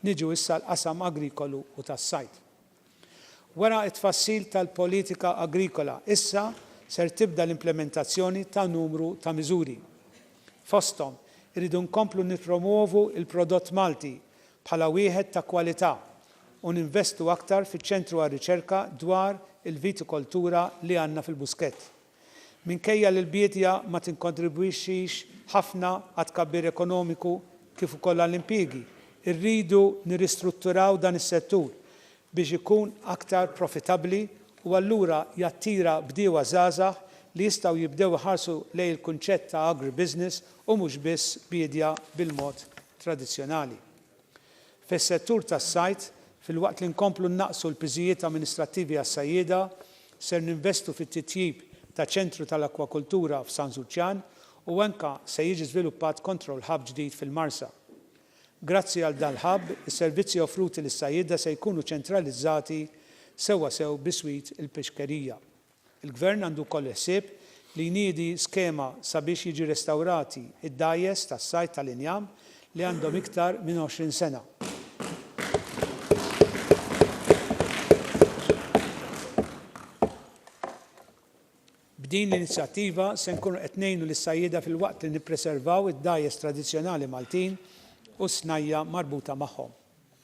Niġu issa għall-qasam agrikolu u tas-sajd. Wara t-tfassil tal-politika agrikola, issa ser tibda l-implimentazzjoni ta' numru ta' miżuri. Fosthom, irridu nkomplu nippromwovu l-prodott Malti bħala wieħed ta' kwalità u ninvestu aktar fiċ-Ċentru għar-Riċerka dwar il-Vitikoltura li għandna fil-Buskett. Minkejja li l-biedja ma tinkontribwixxix ħafna għat-tkabbir ekonomiku kif ukoll għall-impjiegi, irridu nirristrutturaw dan is-settur biex ikun aktar profitabbli u allura jattira bdiewa żgħażagħ li jistgħu jibdew iħarsu lejn il-kunċett ta' agribusiness u mhux biss biedja bil-mod tradizzjonali fis-settur tas-sajd, filwaqt li nkomplu nnaqqsu l-piżijiet amministrattivi għas-sajjieda, ser ninvestu fit-titjib ta' ċentru tal-akkwakultura f'San Żuċċan u anke se jiġi żviluppat control hub ġdid fil-Marsa. Grazzi għal dan l-hub, is-servizzi offruti lis-sajjieda se jkunu ċentralizzati sewwasew biswit il-pixkerija. Il-Gvern għandu wkoll il-ħsieb li jniedi skema sabiex jiġi restawrati d-dgħajjes tas-sajd tal-injam li għandhom iktar minn 20 sena. B'din l-inizjattiva se nkunu qed ngħinu lis-sajjieda filwaqt li nippreservaw id-dgħajjes tradizzjonali Maltin u s-snajja' marbuta magħhom.